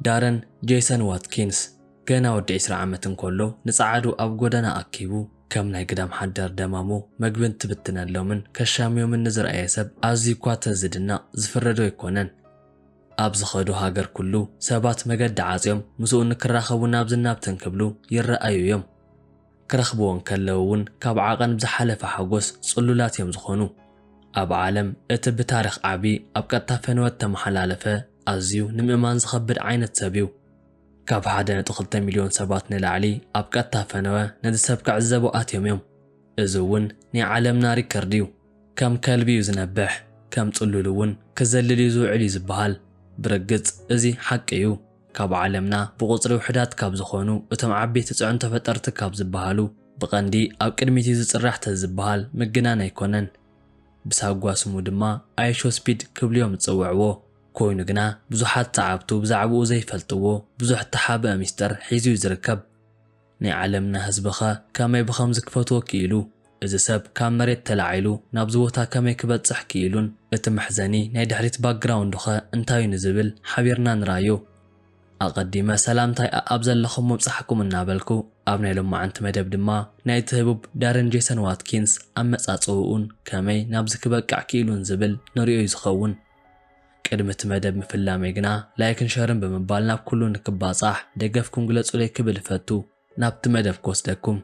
ዳረን ጄሰን ዋትኪንስ ገና ወዲ ዕስራ ዓመት እንከሎ ንጸዓዱ ኣብ ጎደና ኣኪቡ ከም ናይ ግዳም ሓዳር ደማሙ መግቢ እንትብትነሎምን ከሻምዮምን ንዝርኣየ ሰብ ኣዝዩ እኳ ተዝድነቕ ዝፍረዶ ኣይኮነን። ኣብ ዝኸዶ ሃገር ኩሉ ሰባት መገዲ ዓጽዮም ምስኡ ንክራኸቡን ናብዝን ናብትን ክብሉ ይረኣዩ እዮም። ክረኽብዎ እንከለዉ እውን ካብ ዓቐን ብዝሓለፈ ሓጎስ ጽሉላት እዮም ዝኾኑ። ኣብ ዓለም እቲ ብታሪኽ ዓቢ ኣብ ቀጥታ ፈነወ እተመሓላለፈ ኣዝዩ ንምእማን ዝኸብድ ዓይነት ሰብ እዩ። ካብ ሓደ ነጥቢ ክልተ ሚልዮን ሰባት ንላዕሊ ኣብ ቀጥታ ፈነወ ነዚ ሰብ ክዕዘቡ ኣትዮም እዮም። እዚ እውን ናይ ዓለምና ሪከርድ እዩ። ከም ከልቢ እዩ ዝነብሕ፣ ከም ጽሉል እውን ክዘልል እዩ ዝውዕል እዩ ዝበሃል። ብርግጽ እዚ ሓቂ እዩ። ካብ ዓለምና ብቑጽሪ ውሑዳት ካብ ዝኾኑ እቶም ዓበይቲ ጽዕንቶ ፈጠርቲ ካብ ዝበሃሉ ብቐንዲ ኣብ ቅድሚት'ዩ ዝጽራሕ ተዝበሃል ምግናን ኣይኮነን። ብሳጓ ስሙ ድማ ኣይሾስፒድ ክብሉ'ዮም ዝጽውዕዎ። ኮይኑ ግና ብዙሓት ሰዓብቱ ብዛዕብኡ ዘይፈልጥዎ ብዙሕ እተሓብአ ሚስጥር ሒዙ'ዩ ዝርከብ። ናይ ዓለምና ህዝቢ'ኸ ከመይ ብኸምዚ ክፈትዎ ክኢሉ? እዚ ሰብ ካብ መሬት ተላዒሉ ናብዚ ቦታ ከመይ ክበጽሕ ክኢሉን እቲ መሕዘኒ ናይ ድሕሪት ባክግራውንዱ'ኸ እንታይ'ዩ ንዝብል ሓቢርና ንርኣዮ። ኣቐዲመ ሰላምታይ ኣኣብ ዘለኹም ምብጻሕኩም እናበልኩ ኣብ ናይ ሎማዕንቲ መደብ ድማ ናይቲ ህቡብ ዳረን ጄሰን ዋትኪንስ ኣመጻጽእኡን ከመይ ናብዚ ክበቅዕ ክኢሉን ዝብል ንርእዮ'ዩ ዝኸውን። ቅድሚ እቲ መደብ ምፍላመይ ግና ላይክን ሸርን ብምባል ናብ ኩሉ ንክባጻሕ ደገፍኩም ግለጹለይ ክብል እፈቱ። ናብቲ መደብ ክወስደኩም።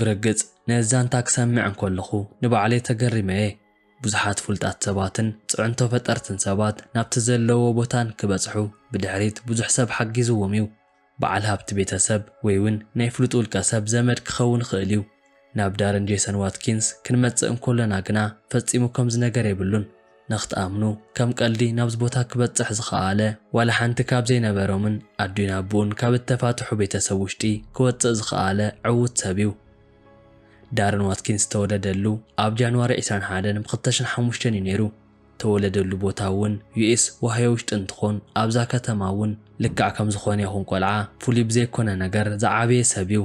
ብርግጽ ነዚ ዛንታ ክሰምዕ እንከለኹ ንባዕለይ ተገሪመ እየ። ብዙሓት ፍሉጣት ሰባትን ጽዕንቶ ፈጠርትን ሰባት ናብቲ ዘለውዎ ቦታ ንክበጽሑ ብድሕሪት ብዙሕ ሰብ ሓጊዝዎም እዩ። በዓል ሃብቲ ቤተሰብ ወይ'ውን ናይ ፍሉጥ ውልቀሰብ ዘመድ ክኸውን ይኽእል እዩ። ናብ ዳረን ጄሰን ዋትኪንስ ክንመጽእ እንኮለና ግና ፈጺሙ ከምዚ ነገር የብሉን። ነኽትኣምኑ ከም ቀልዲ ናብዚ ቦታ ክበጽሕ ዝኸኣለ ዋላ ሓንቲ ካብ ዘይነበሮምን ኣዲኡን ኣቡኡን ካብ እተፋትሑ ቤተሰብ ውሽጢ ክወጽእ ዝኸኣለ ዕዉት ሰብ እዩ። ዳረን ዋትኪንስ ዝተወለደሉ ኣብ ጃንዋሪ ዕስራን ሓደን ብ ክልተ ሽሕን ሓሙሽተን እዩ ነይሩ። ተወለደሉ ቦታ እውን ዩኤስ ኦሃዮ ውሽጢ እንትኾን ኣብዛ ከተማ እውን ልክዕ ከም ዝኾነ ይኹን ቆልዓ ፍሉይ ብዘይኮነ ነገር ዝዓበየ ሰብ እዩ።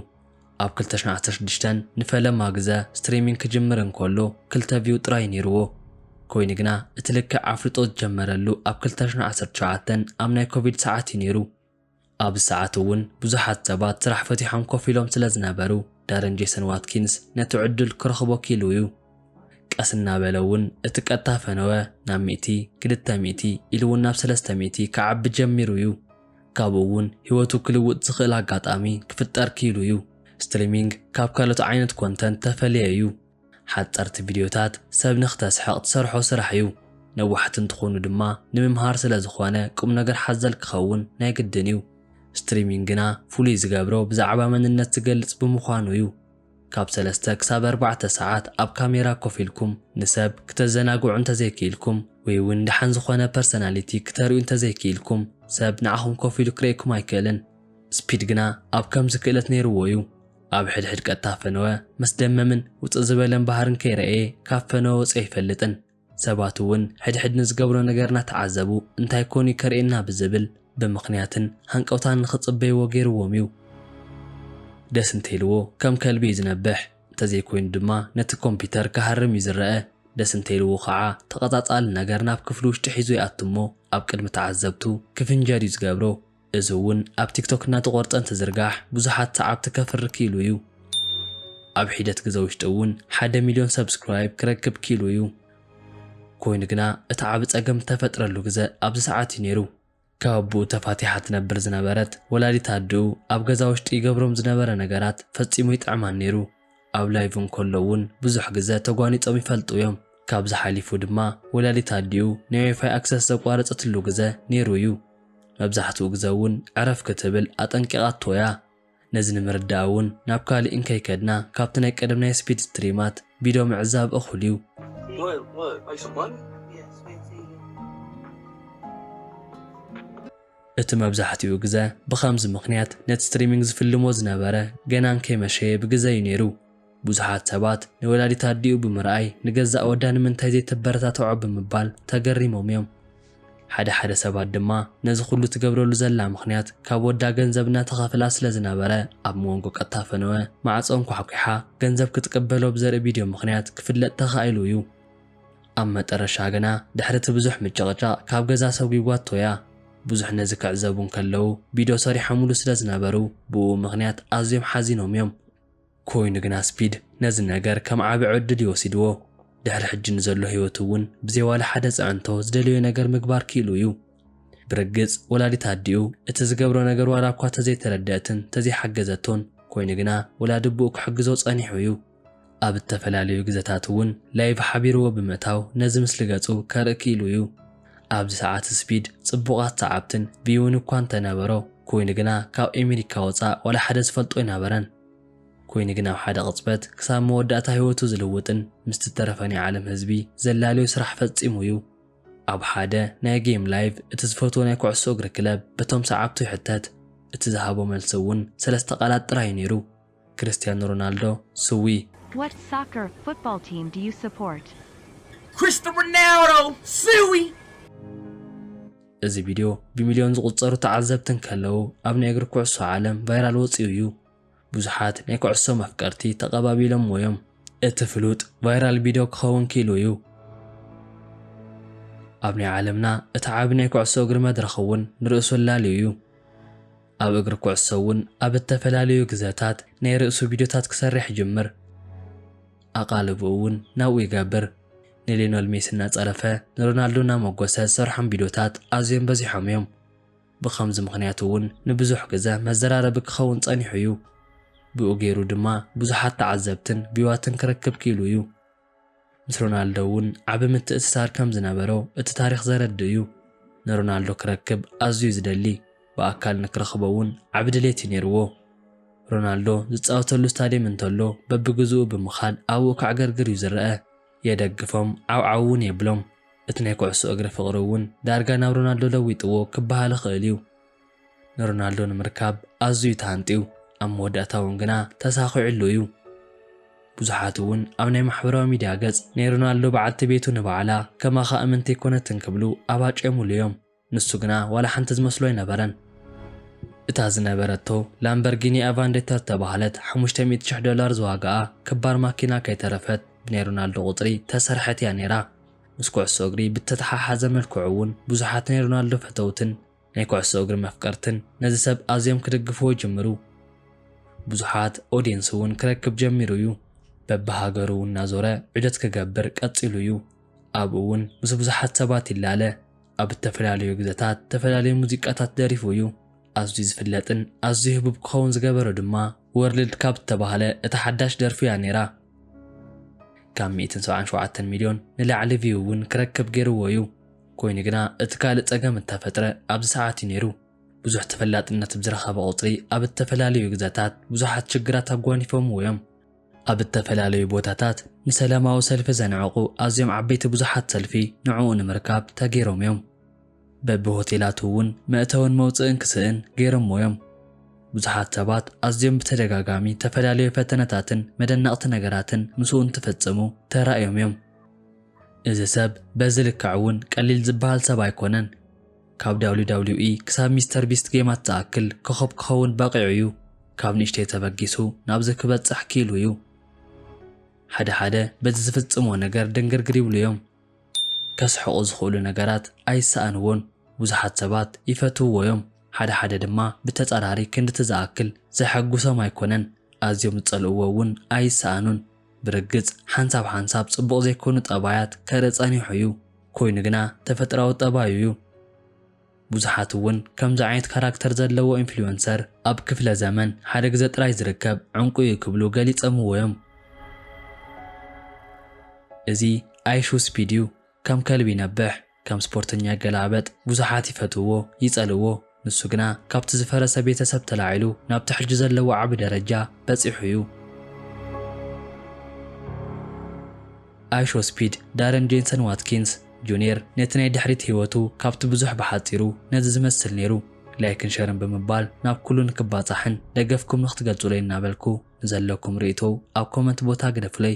ኣብ ክልተ ሽሕን ዓሰርተ ሽዱሽተን ንፈለማ ግዘ ስትሪሚንግ ክጅምር እንከሎ ክልተ ቪው ጥራይ ነይርዎ። ኮይኑ ግና እቲ ልክዕ ኣፍልጦ ዝጀመረሉ ኣብ ክልተ ሽሕን ዓሰርተ ትሽዓተን ኣብ ናይ ኮቪድ ሰዓት እዩ ነይሩ። ኣብዚ ሰዓት እውን ብዙሓት ሰባት ስራሕ ፈቲሖም ኮፍ ኢሎም ስለ ዝነበሩ፣ ዳረን ጄሰን ዋትኪንስ ነቲ ዕድል ክረኽቦ ኪኢሉ እዩ። ቀስ እናበለ እውን እቲ ቀጥታ ፈነወ ናብ ሚእቲ፣ ክልተ ሚእቲ፣ ኢሉ እውን ናብ ሰለስተ ሚእቲ ክዓቢ ጀሚሩ እዩ። ካብኡ እውን ህይወቱ ክልውጥ ዝኽእል ኣጋጣሚ ክፍጠር ኪኢሉ እዩ። ስትሪሚንግ ካብ ካልኦት ዓይነት ኮንተንት ተፈልየ እዩ። ሓጸርቲ ቪድዮታት ሰብ ንክተስሕቕ ትሰርሖ ስራሕ እዩ። ነዋሕቲ እንትኾኑ ድማ ንምምሃር ስለዝኾነ ቁምነገር ሓዘል ክኸውን ናይ ግድን እዩ። ስትሪሚንግ ግና ፍሉይ ዝገብሮ ብዛዕባ መንነት ዝገልጽ ብምዃኑ እዩ። ካብ ሰለስተ ክሳብ ኣርባዕተ ሰዓት ኣብ ካሜራ ኮፍ ኢልኩም ንሰብ ክተዘናግዑ እንተዘይክኢልኩም ወይ'ውን ደሓን ዝኾነ ፐርሰናሊቲ ክተርእዩ እንተዘይክኢልኩም ሰብ ንዓኹም ኮፍ ኢሉ ክርእየኩም ኣይክእልን። ስፒድ ግና ኣብ ከምዚ ክእለት ነይርዎ እዩ። ኣብ ሕድሕድ ቀጥታ ፈነወ መስደመምን ውጽእ ዝበለን ባህርን ከይረኤ ካብ ፈነወ ወጺኡ ኣይፈልጥን። ሰባት እውን ሕድሕድ ንዝገብሮ ነገር እናተዓዘቡ እንታይ ኮን እዩ ከርእየና ብዝብል ብምኽንያትን ሃንቀውታን ንኽጽበይዎ ገይርዎም እዩ። ደስ እንተኢልዎ ከም ከልቢ እዩ ዝነብሕ፣ እንተዘይኮይኑ ድማ ነቲ ኮምፒተር ክሃርም እዩ ዝረኣ። ደስ እንተኢልዎ ኸዓ ተቐጻጻሊ ነገር ናብ ክፍሊ ውሽጢ ሒዙ ይኣቱ እሞ ኣብ ቅድሚ ተዓዘብቱ ክፍንጀር እዩ ዝገብሮ። እዚ እውን ኣብ ቲክቶክ እናተቖርፀ እንትዝርጋሕ ብዙሓት ሰዓብቲ ከፍሪ ክኢሉ እዩ። ኣብ ሒደት ግዘ ውሽጢ እውን ሓደ ሚልዮን ሰብስክራይብ ክረክብ ክኢሉ እዩ። ኮይኑ ግና እቲ ዓቢ ፀገም ዝተፈጥረሉ ግዘ ኣብዚ ሰዓት እዩ ነይሩ። ካብ ኣቡኡ ተፋቲሓ ትነብር ዝነበረት ወላዲት ኣድኡ ኣብ ገዛ ውሽጢ ይገብሮም ዝነበረ ነገራት ፈፂሙ ኣይጥዕማን ነይሩ። ኣብ ላይቭ እንከሎ እውን ብዙሕ ግዘ ተጓኒፆም ይፈልጡ እዮም። ካብዚ ሓሊፉ ድማ ወላዲት ኣዲኡ ናይ ዋይፋይ ኣክሰስ ዘቋረፀትሉ ግዘ ነይሩ እዩ። መብዛሕትኡ ግዘ እውን ዕረፍ ክትብል ኣጠንቂቓቶ እያ። ነዚ ንምርዳእ እውን ናብ ካሊእ እንከይከድና ካብቲ ናይ ቀደም ናይ ስፒድ ስትሪማት ቪድዮ ምዕዛብ እኹል እዩ። What? What? Like some money? Yes, fancy. እቲ መብዛሕትኡ ግዘ ብኸምዚ ምኽንያት ነቲ ስትሪሚንግ ዝፍልሞ ዝነበረ ገና እንከይመሸየ ብግዘ እዩ ነይሩ። ብዙሓት ሰባት ንወላዲት ኣዲኡ ብምርኣይ ንገዛእ ወዳ ንምንታይ ዘይተበረታትዖ ብምባል ተገሪሞም እዮም። ሓደ ሓደ ሰባት ድማ ነዚ ኩሉ ትገብረሉ ዘላ ምኽንያት ካብ ወዳ ገንዘብ እናተኸፍላ ስለ ዝነበረ ኣብ ሞንጎ ቀጥታ ፈነወ ማዕፆ እንኳሕኲሓ ገንዘብ ክትቅበሎ ብዘርኢ ቪድዮ ምኽንያት ክፍለጥ ተኻኢሉ እዩ። ኣብ መጠረሻ ግና ድሕሪ እቲ ብዙሕ ምጭቕጫቕ ካብ ገዛ ሰጒጓቶ እያ። ብዙሕ ነዚ ክዕዘቡ እንከለዉ ቢዶ ሰሪሖሙሉ ስለ ዝነበሩ ብእኡ ምኽንያት ኣዝዮም ሓዚኖም እዮም። ኮይኑ ግና ስፒድ ነዚ ነገር ከም ዓቢ ዕድል እዩ ወሲድዎ። ድሕሪ ሕጂ ንዘሎ ህይወቱ እውን ብዘይ ዋላ ሓደ ጽዕንቶ ዝደለዮ ነገር ምግባር ክኢሉ እዩ። ብርግጽ ወላዲት ኣዲኡ እቲ ዝገብሮ ነገር ዋላ እኳ ተዘይተረደእትን ተዘይሓገዘቶን ኮይኑ ግና ወላዲ ኣቦኡ ክሕግዞ ጸኒሑ እዩ። ኣብ እተፈላለዩ ግዘታት እውን ላይቭ ሓቢርዎ ብምእታው ነዚ ምስሊ ገጹ ከርኢ ክኢሉ እዩ። ኣብዚ ሰዓት ስፒድ ጽቡቓት ሰዓብትን ቪውን እኳ እንተነበሮ ኩይኑ ግና ካብ ኤሚሪካ ወጻእ ዋላ ሓደ ዝፈልጦ ኣይናበረን። ኩይኑ ግን ኣብ ሓደ ቅጽበት ክሳብ መወዳእታ ህይወቱ ዝልውጥን ምስቲ ዝተረፈ ናይ ዓለም ህዝቢ ዘላልዮ ስራሕ ፈጺሙ እዩ። ኣብ ሓደ ናይ ጌም ላይቭ እቲ ዝፈትዎ ናይ ኩዕሶ እግሪ ክለብ በቶም ሰዓብቱ ይሕተት። እቲ ዝሃቦ መልሲ እውን ሰለስተ ቃላት ጥራይ እዩ ነይሩ። ክርስትያኖ ሮናልዶ ስዊ። What soccer, football, team do you support? Christian Ronaldo ስዊ። እዚ ቪድዮ ብሚልዮን ዝቑጸሩ ተዓዘብቲ እንከለዉ ኣብ ናይ እግሪ ኩዕሶ ዓለም ቫይራል ወጺኡ እዩ። ብዙሓት ናይ ኩዕሶ መፍቀርቲ ተቐባቢሎምዎ እዮም። እቲ ፍሉጥ ቫይራል ቪድዮ ክኸውን ክኢሉ እዩ። ኣብ ናይ ዓለምና እቲ ዓቢ ናይ ኩዕሶ እግሪ መድረኽ እውን ንርእሱ ኣላልዩ እዩ። ኣብ እግሪ ኩዕሶ እውን ኣብ እተፈላለዩ ግዘታት ናይ ርእሱ ቪድዮታት ክሰርሕ ይጅምር። ኣቓልቦኡ እውን ናብኡ ይገብር። ንሊዮነል ሜሲ እናጸረፈ ንሮናልዶ እናመጎሰ ዝሰርሖም ቪድዮታት ኣዝዮም በዚሖም እዮም። ብኸምዚ ምኽንያት እውን ንብዙሕ ግዘ መዘራረቢ ክኸውን ጸኒሑ እዩ። ብኡ ገይሩ ድማ ብዙሓት ተዓዘብትን ቪዋትን ክረክብ ክኢሉ እዩ። ምስ ሮናልዶ እውን ዓቢ ምትእስሳር ከም ዝነበሮ እቲ ታሪኽ ዘረድእ እዩ። ንሮናልዶ ክረክብ ኣዝዩ እዩ ዝደሊ፣ ብኣካል ንክረኽቦ እውን ዓቢ ድሌት እዩ ነይርዎ። ሮናልዶ ዝጻወተሉ ስታድየም እንተሎ በብግዝኡ ብምኻድ ኣብኡ ከዕገርግር እዩ ዝረኣ። የደግፎም፣ ዓውዓው እውን የብሎም። እቲ ናይ ኩዕሶ እግሪ ፍቕሪ እውን ዳርጋ ናብ ሮናልዶ ለዊጥዎ ክበሃል ይኽእል እዩ። ንሮናልዶ ንምርካብ ኣዝዩ ተሃንጥዩ፣ ኣብ መወዳእታ እውን ግና ተሳኺዑሉ እዩ። ብዙሓት እውን ኣብ ናይ ማሕበራዊ ሚድያ ገጽ ናይ ሮናልዶ በዓልቲ ቤቱ ንባዕላ ከማኻ እምንቲ ኣይኮነትን ክብሉ ኣባጭዮምሉ እዮም። ንሱ ግና ዋላ ሓንቲ ዝመስሎ ኣይነበረን። እታ ዝነበረቶ ላምበርጊኒ ኣቫንዴታ ዝተባህለት ሓሙሽተ ሚእቲ ሽሕ ዶላር ዝዋጋኣ ክባር ማኪና ከይተረፈት ብናይ ሮናልዶ ቁጽሪ እተሰርሐት እያ ነይራ። ምስ ኩዕሶ እግሪ ብእተተሓሓዘ መልክዑ እውን ብዙሓት ናይ ሮናልዶ ፈተውትን ናይ ኩዕሶ እግሪ መፍቀርትን ነዚ ሰብ ኣዝዮም ክድግፍዎ ይጅምሩ። ብዙሓት ኦድየንስ እውን ክረክብ ጀሚሩ እዩ። በብሃገሩ እናዞረ ዑደት ክገብር ቀጺሉ እዩ። ኣብኡ እውን ምስ ብዙሓት ሰባት ይላለ። ኣብ እተፈላለዩ ግዘታት እተፈላለዩ ሙዚቃታት ደሪፉ እዩ። ኣዝዩ ዝፍለጥን ኣዝዩ ህቡብ ክኸውን ዝገበሮ ድማ ወርልድ ካብ እተባህለ እታ ሓዳሽ ደርፉ እያ ነይራ። ካብ ሚእትን ሰብዓን ሸውዓተን ሚልዮን ንላዕሊ ቪው እውን ክረክብ ገይሩዎ እዩ። ኮይኑ ግና እቲ ካልእ ጸገም እተፈጥረ ኣብዚ ሰዓት እዩ ነይሩ። ብዙሕ ተፈላጥነት ብዝረኸበ ቁጽሪ ኣብ እተፈላለዩ ግዘታት ብዙሓት ሽግራት ኣጓኒፎምዎ እዮም። ኣብ እተፈላለዩ ቦታታት ንሰላማዊ ሰልፊ ዘንዕቑ ኣዝዮም ዓበይቲ ብዙሓት ሰልፊ ንዕኡ ንምርካብ ተገይሮም እዮም። በቢ ሆቴላቱ እውን መእተውን መውጽእን ክስእን ገይሮምዎ እዮም። ብዙሓት ሰባት ኣዝዮም ብተደጋጋሚ እተፈላለዩ ፈተነታትን መደነቕቲ ነገራትን ምስኡ እንትፍጽሙ ተራእዮም እዮም። እዚ ሰብ በዚ ልክዕ እውን ቀሊል ዝበሃል ሰብ ኣይኮነን። ካብ WWE ክሳብ ሚስተር ቢስት ጌማት ዝኣክል ኮኾብ ክኸውን በቒዑ እዩ። ካብ ንእሽተይ ተበጊሱ ናብዚ ክበጽሕ ክኢሉ እዩ። ሓደ ሓደ በዚ ዝፍጽምዎ ነገር ድንግርግር ይብሉ እዮም። ከስሕቑ ዝኽእሉ ነገራት ኣይሰኣንዎን። ብዙሓት ሰባት ይፈትውዎ እዮም፣ ሓደ ሓደ ድማ ብተጻራሪ ክንድቲ ዝኣክል ዘሐጉሶም ኣይኮነን። ኣዝዮም ዝጸልእዎ እውን ኣይሰኣኑን። ብርግጽ ሓንሳብ ሓንሳብ ጽቡቕ ዘይኮኑ ጠባያት ከርኢ ጸኒሑ እዩ፣ ኮይኑ ግና ተፈጥራዊ ጠባዩ እዩ። ብዙሓት እውን ከምዚ ዓይነት ካራክተር ዘለዎ ኢንፍሉዌንሰር ኣብ ክፍለ ዘመን ሓደ ግዘ ጥራይ ዝርከብ ዕንቁ እዩ ክብሉ ገሊጸምዎ እዮም። እዚ ኣይሹ ስፒድ እዩ ከም ከልቢ ይነብሕ። ከም ስፖርተኛ ይገላበጥ፣ ብዙሓት ይፈትውዎ ይጸልእዎ፣ ንሱ ግና ካብቲ ዝፈረሰ ቤተሰብ ተላዒሉ ናብቲ ሕጂ ዘለዎ ዓቢ ደረጃ በጺሑ እዩ። ኣይሾስፒድ ዳረን ጄንሰን ዋትኪንስ ጁንየር ነቲ ናይ ድሕሪት ህይወቱ ካብቲ ብዙሕ ብሓጺሩ ነዚ ዝመስል ነይሩ ላይክን ሸርን ብምባል ናብ ኩሉ ንክባጻሕን ደገፍኩም ንክትገልጹለይ እናበልኩ ንዘለኩም ርእይቶ ኣብ ኮመንት ቦታ ግደፉለይ።